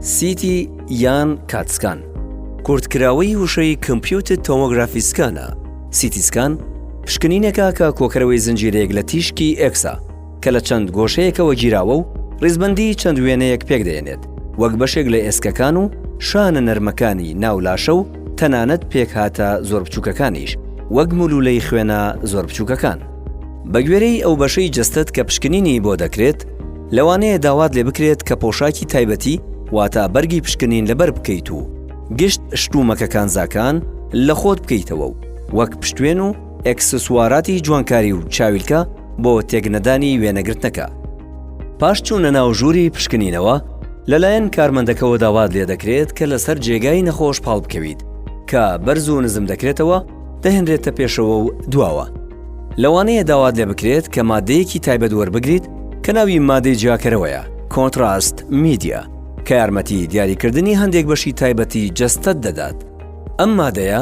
سیتی یان کاتسکان، کورتکراوەی وشەی Computed Tomography Scan ە، سیتی سکان پشکنینێکە کە کۆکەرەوەی زنجیرەیەک لە تیشکی ئێکسە کە لە چەند گۆشەیەکەوە گیراوە و ڕیزبەندی چەند وێنەیەک پێکدەێنێت وەک بەشێک لە ئێسکەکان و شانە نەرمەکانی ناو لاشە و تەنانەت پێکهاتە زۆر بچووکەکانیش وەک مولولەی خوێنە زۆر بچووکەکان. بەگوێرەی ئەو بەشەی جەستەت کە پشکنینی بۆ دەکرێت، لەوانەیە داوات لێ بکرێت کە پۆشاکی تایبەتی واتا بەرگی پشکنین لەبەر بکەیت و گشت شتومەکە کانزاکان لە خۆت بکەیتەوە و وەک پشتوێن و ئەکسسواراتی جوانکاری و چاویلکە بۆ تێکنەدانی وێنەگرتنەکە پاش چوونە ناو ژووری پشکنینەوە لەلایەن کارمەندەکەەوە داوات لێ دەکرێت کە لەسەر جێگای نەخۆش پاڵ بکەویت کە بەرز و نزم دەکرێتەوە دەهێنرێتە پێشەوە و دواوە لەوانەیە داوات لێ بکرێت کە مادەیەکی تایبەت وەربگریت کە ناوی مادەی جیاکەرەوەیە کۆنتراست میدیا کە یارمەتی دیاریکردنی هەندێک بەشی تایبەتی جەستەت دەدات ئەم مادەیە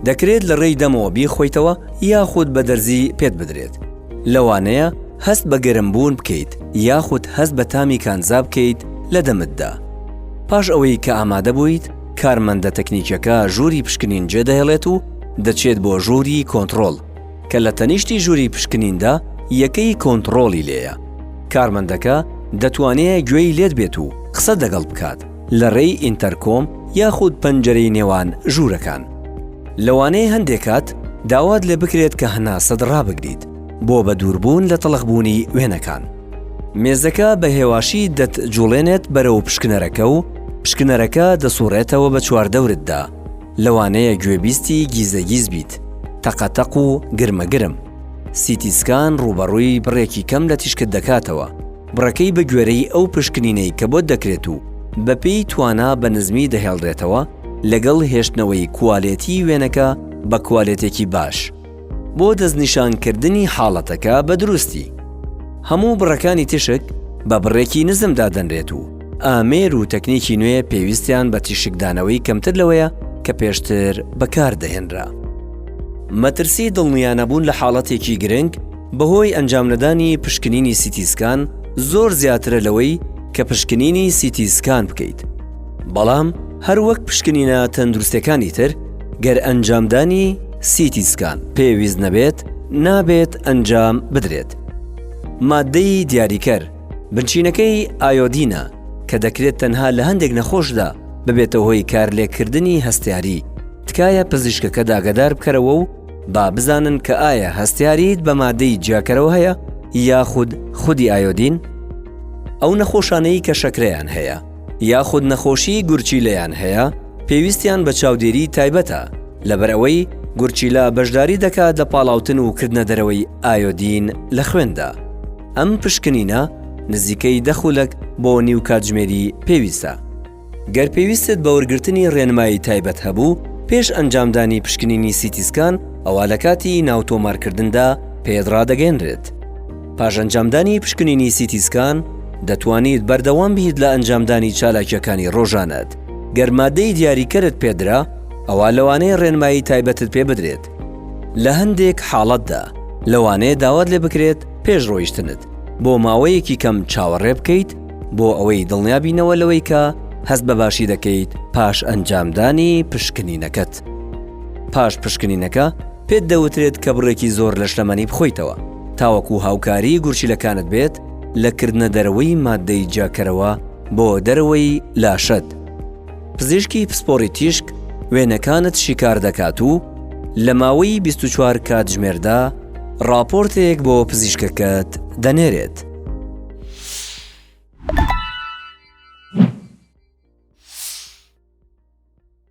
دەکرێت لە ڕێی دەمەوە بیخۆیتەوە یاخود بە دەرزی پێت بدرێت لەوانەیە هەست بە گەرمبوون بکەیت یاخود هەست بە تامی کانزا بکەیت لە دەمتدا پاش ئەوەی کە ئامادە بوویت کارمەندە تەکنیکیەکە ژووری پشکنین جێدەهێڵێت و دەچێت بۆ ژووری کۆنتڕۆڵ کە لە تەنیشتی ژووری پشکنیندا یەکەی کۆنتڕۆڵی لێیە. کارمەندەکە دەتوانێ گوێی لێت بێت و قسەت لەگەڵ بکات لە رێی ئینتەرکۆم یاخود پەنجەرەی نێوان ژوورەکان. لەوانەیە هەندێک کات داوات لێ بکرێت کە هەناسەت رابگریت بۆ بەدووربوون لە تڵخبوونی وێنەکان. مێزەکە بە هێواشی دەتجوڵێنێت بەرەو پشکنەرەکە و پشکنەرەکە دەسوڕێتەوە بە چواردەورتدا. لەوانەیە گوێبیستی گیزەگیز بیت، تەقەتەق و گرمەگرم. سیتی سکان ڕووبەڕووی بڕێکی کەم لە تیشکت دەکاتەوە، بڕەکەی بە گوێرەی ئەو پشکنینەی کە بۆت دەکرێت و بەپێی توانا بە نزمی دەهێڵرێتەوە لەگەڵ هێشتنەوەی کوالێتی وێنەکە بە کوالێتێکی باش. بۆ دەستنیشانکردنی حاڵەتەکە بە دروستی، هەموو بڕەکانی تیشک بە بڕێکی نزم دادەنرێت و ئامێر و تەکنیکی نوێ پێویستیان بە تیشکدانەوەی کەمتر لەوەیە کە پێشتر بەکاردەهێنرا. مەترسی دڵنیانەبوون لە حاڵەتێکی گرنگ بەهۆی ئەنجامنەدانی پشکنینی سیتی سکان زۆر زیاترە لەوەی کە پشکنینی سیتی سکان بکەیت، بەڵام هەروەک پشکنینە تەندروستیەکانی تر گەر ئەنجامدانی، سیتی سکان پێویست نەبێت نابێت ئەنجام بدرێت. ماددەی دیاریکەر بنچینەکەی ئایۆدینە کە دەکرێت تەنها لە هەندێک نەخۆشدا ببێتە هۆی کارلێککردنی هەستیاری، تکایە پزیشکەکەت ئاگادار بکەرەوە و با بزانن کە ئایا هەستیاریت بە مادەی جیاکەرەوە هەیە یاخود خودی ئایۆدین؟ ئەو نەخۆشانەی کە شەکرەیان هەیە. یاخود نەخۆشیی گورچیلەیان هەیە، پێویستیان بە چاودێریی تایبەتە، لەبەرئەوەی گورچیلە بەشداری دەکات لە پاڵاوتن و کردنەدەرەوەی ئایۆدین لە خوێندا. ئەم پشکنینە نزیکەی دە خولەک بۆ نیو کاتژمێری پێویستە. گەر پێویستت بە وەرگرتنی ڕێنمایی تایبەت هەبوو پێش ئەنجامدانی پشکنینی سیتیسکان، ئەوا لە کاتی ناوتۆمارکردندا پێت ڕادەگەیەنرێت. پاش ئەنجامدانی پشکنینی سیتی سکان، دەتوانیت بەردەوام بیت لە ئەنجامدانی چالاکیەکانی ڕۆژانەت. گەر مادەی دیاریکەرت پێدرا، ئەوا لەوانەیە ڕێنمایی تایبەتت پێ بدرێت. لە هەندێک حاڵەتدا، لەوانەیە داوات لێ بکرێت پێش ڕۆیشتنت بۆ ماوەیەکی کەم چاوەڕێ بکەیت بۆ ئەوەی دڵنیابینەوە لەوەی کە هەست بە باشی دەکەیت پاش ئەنجامدانی پشکنینەکەت. پاش پشکنینەکە، پێت دەوترێت کە بڕێکی زۆر لەشلەمەنی بخۆیتەوە تاوەکو هاوکاریی گورچیلەکانت بێت لە کردنە دەرەوەی ماددەی جیاکەرەوە بۆ دەرەوەی لاشەت. پزیشکی پسپۆڕی تیشک وێنەکانت شیکار دەکات و لە ماوەی بیست و چوار کاتژمێردا ڕاپۆرتێک بۆ پزیشکەکەت دەنێرێت.